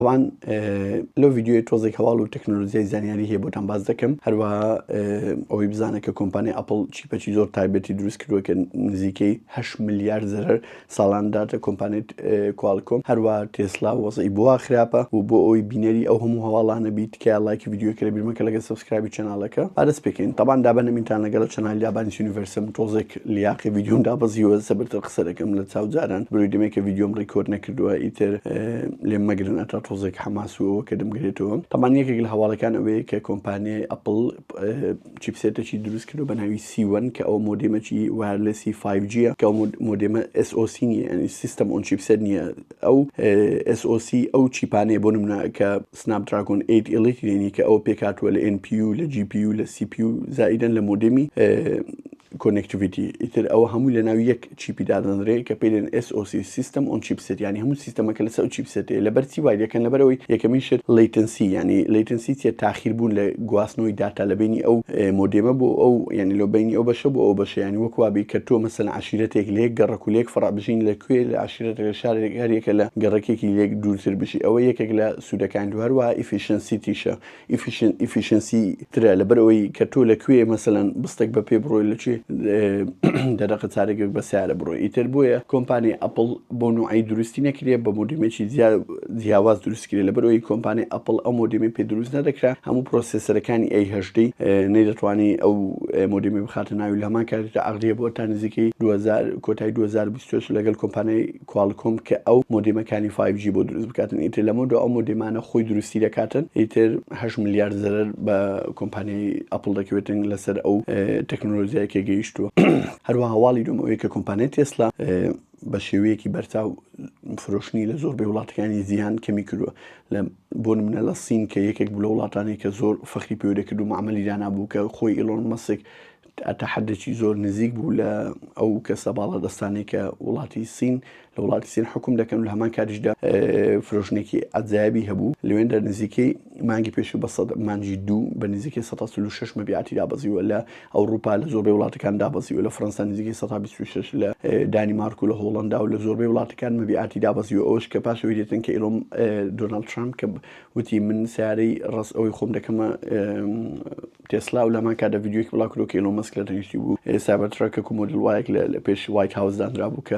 تەبعەن لەو ڤیدیۆیە تۆزێک هەواڵ و تەکنۆلۆژیای زانیاری هەیە بۆتان باس دەکەم هەروە ئەوەی بزانە کە کۆمپانیای ئەپل چیپەچی زۆر تایبەتی دروست کردووە کە نزیکەی 8 ملیار زەرەر ساڵان داتە کۆمپانێت کوالکۆم هەروە تێسلا وەزی بووە خراپە و بۆ ئەوی بینەری ئەو هەموو هەواڵانە بیت تکایە ڵایکی ڤیدیۆکە لەبیر مەکە لەگەل سەبسکرایبی چەنالەکە ئا دەست پێکەین تەبان دابەنەمینتان لەگەلە چەنالی دابانی سینیڤەرسم تۆزێک لیاقی ڤیدیۆم دابەزیوە زەبرتر قسە دەکەم لە چاو جاران برۆی دەمێکە ڤیدیۆم ریکۆرد نەکردوە ئیتر لێم مەگرن ئەتا تۆزێک حەماس و ئەوەکە دەمگرێتەوە تەبان یەکێک لە هەواڵەکان ئەوەیە کە کۆمپانیای ئەپل چیپسێتەکی دروست کردو بەناوی سی وەن کە ئەو مۆدیمەکی وایەرلێسی 5 جیە کە مۆدێمە SOC نیە ئەنی سیستەم ئۆن چیپسێت نیە ئەو SOC ئەو چیپانەیە بۆ نمونە کە Snapdragon ئێیت ئیڵیت یەنی کە ئەوە پێکهاتووە لە ئێن پیو لە جی پیو لە سی پیو زائیدەن لە مۆدێمی کۆنێکتیڤیتی ئیتر ئەوە هەموو لە ناو یەک چیپی دادەنرێ کە پێێن SOC سیستم ئۆن چیپسێت ینی هەموو سیستەمەکە لەسەر چیپسێتێ لە بەرچی وای دەکەن لەبەرەوەی یەکەمین شت لیتنسی ینی لیتنسی چێت تاخیر بوون لە گواستنەوەی داتا لە بینی ئەو مۆدێمە بۆ ئەو ینی لۆ بینی ئەو بەشە بۆ ئەو بەشیانی وەکوابی کە تۆ مەسەن عەشیرەتێک لەیەک گەڕەک و لەیەک فەڕع بژین لە کوێ لە عەشیرەتێک لە شارێک هەر یەکە لە گەڕەکێکی لەیەک دوورتر بژی ئەوە یەکێک لە سوودەکانی تۆ هەروەها ئیفیشنسیتیشە ئیفیشن ئیفیشنسی ترە لەبەر ئەوەی کە تۆ لە کوێ مەسەلەن بستێک بە پێ بڕۆی لە کوێ دەرەقە چارێکێک بە سیارە بڕۆی ئیتر بۆیە کۆمپانیای ئەپڵ بۆ نوعی دروستی نەکرێ بە مۆدیمێکی زیاد جیاواز دروست کرێ لەبەر ئەوەی کۆمپانیای ئەپڵ ئەو مۆدێمی پێ دروست نەدەکرا هەموو پرۆسێسەرەکانی ئەی هەژدەی نەیدەتوانی ئەو مۆدێمی بخاتە ناوی لە هەمان کاتێکدا ئەغریە بۆ تا نزیکەی 2000 کۆتای 2020 لەگەل کۆمپانیای کوالکۆم کە ئەو مۆدێمەکانی 5G بۆ دروست بکاتن ئیتر لەمە دو ئەو مۆدێمانە خۆی دروستی دەکاتن ئیتر 8 ملیار زەرەر بە کۆمپانیای ئەپڵ دەکەوێتن لەسەر ئەو تەکنۆلۆژیای کە گەیشتووە هەروەها هەواڵی دوم ئەوەیە کە کۆمپانیای تێسلا بە شێوەیەکی بەرچاو فرۆشتنی لە زۆربەی وڵاتەکانی جیهان کەمی کردووە، بۆ نموونە لە سین کە یەکێک بوو لە وڵاتانەی کە زۆر فەخری پێوە دەکرد و مەعمەلی دانابوو کە خۆی ئیلۆن مەسک تا حەدێکی زۆر نزیک بوو لە ئەو کەسە باڵادەستانەی کە وڵاتی سین لە وڵاتی سین حکوم دەکەن و لە هەمان کاتیشدا فرۆشتنێکی عەجایبی هەبوو لەوێندا نزیکەی مانگی پێشوو بە سەد مانگی دوو بە نزیکەی سەد و چل و شەش مەبیعاتی دابەزیوە لە ئەوڕوپا لە زۆربەی وڵاتەکان دابەزیوە، لە فەرەنسا نزیکەی سەتا بیست و شەش، لە دانیمارک و لە هۆڵەندا و لە زۆربەی وڵاتەکان مەبیعاتی دابەزیوە، ئەوەش کە پاش ئەوەی دێتن کە ئیلۆن دۆناڵد ترامپ کە وتی من سەیارەی ڕەس ئەوەی خۆم دەکەمە تێسلا و لەمان کاتدا ڤیدیۆیەکی بڵاوکردەوە کە ئیلۆن مەسک لە تەنیشتی بوو سایبەرترەکەک و مۆدل وایەک لە پێش وایت هاوس دانرابوو کە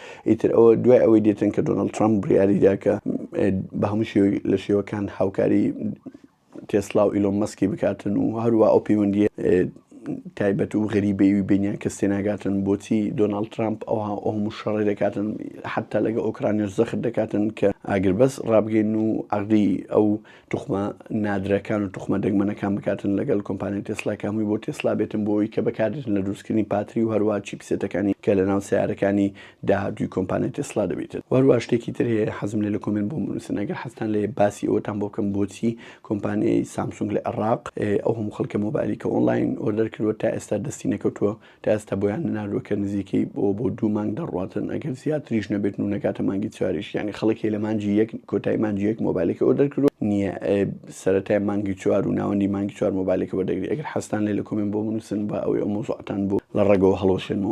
ئیتر ئەوە دوای ئەوەی دێتن کە دۆناڵد ترەمپ بڕیاریدا کە بە هەموو شێوەی لە شێوەکان هاوکاری تێسلا و ئیلۆن مەسکی بکاتن و هەروە ئەو پەیوەندیە تایبەت و غەریبەیوی بینیان کە سێناگاتن بۆچی دۆناڵد ترامپ ئەوها ئەو هەموو شەڕێ دەکاتن حتا لەگە ئۆکرانیش زەخت دەکاتن کە ئاگربەس ڕابگەین و عقدی ئەو توخمە نادرەکان و توخمە دەگمەنەکان بکاتن لەگەل کۆمپانیای تێسلا کە هەمووی بۆ تێسلا بێتن بۆ ئەوەی کە بەکاردێتن لە دروستکردنی پاتری و هەروەها چیپسێتەکانی کە لەناو سەیارەکانی داهاتووی کۆمپانیای تێسلا دەبیتن و هەروەها شتێکی تر هەیە حەزم لێ لە کۆمێنت بۆم بنووسن ئەگەر حەزتان لێیە باسی ئەوەتان بۆ بکەم بۆچی کۆمپانیای سامسونگ لە عێڕاق ئەو هەموو خەلکە مۆبایلی کە ئۆنڵاین ئۆردەر کردووە تا ئێستا دەستی نەکەوتووە تا ئێستا بۆیان نەناردووە کە نزیکەی بۆ بۆ دوو مانگ دەڕواتن ئەگەر زیاتریش نەبێتن و نەگاتە مانگی چواریش یانی خەڵک هەیە لە مانگی یەک کۆتای مانگی یەک مۆبایلەکەی ئۆردەر کردووە نییە سەرەتای مانگی چوار و ناوەندی مانگی چوار مۆبایلەکە وەردەگری ئەگەر حەزتان لێ لە کۆمێنت بۆ بنووسن با ئەوەی ئەو مەوزوعەتان بۆ لە ڕەگەوە هەڵوەشێنمەوە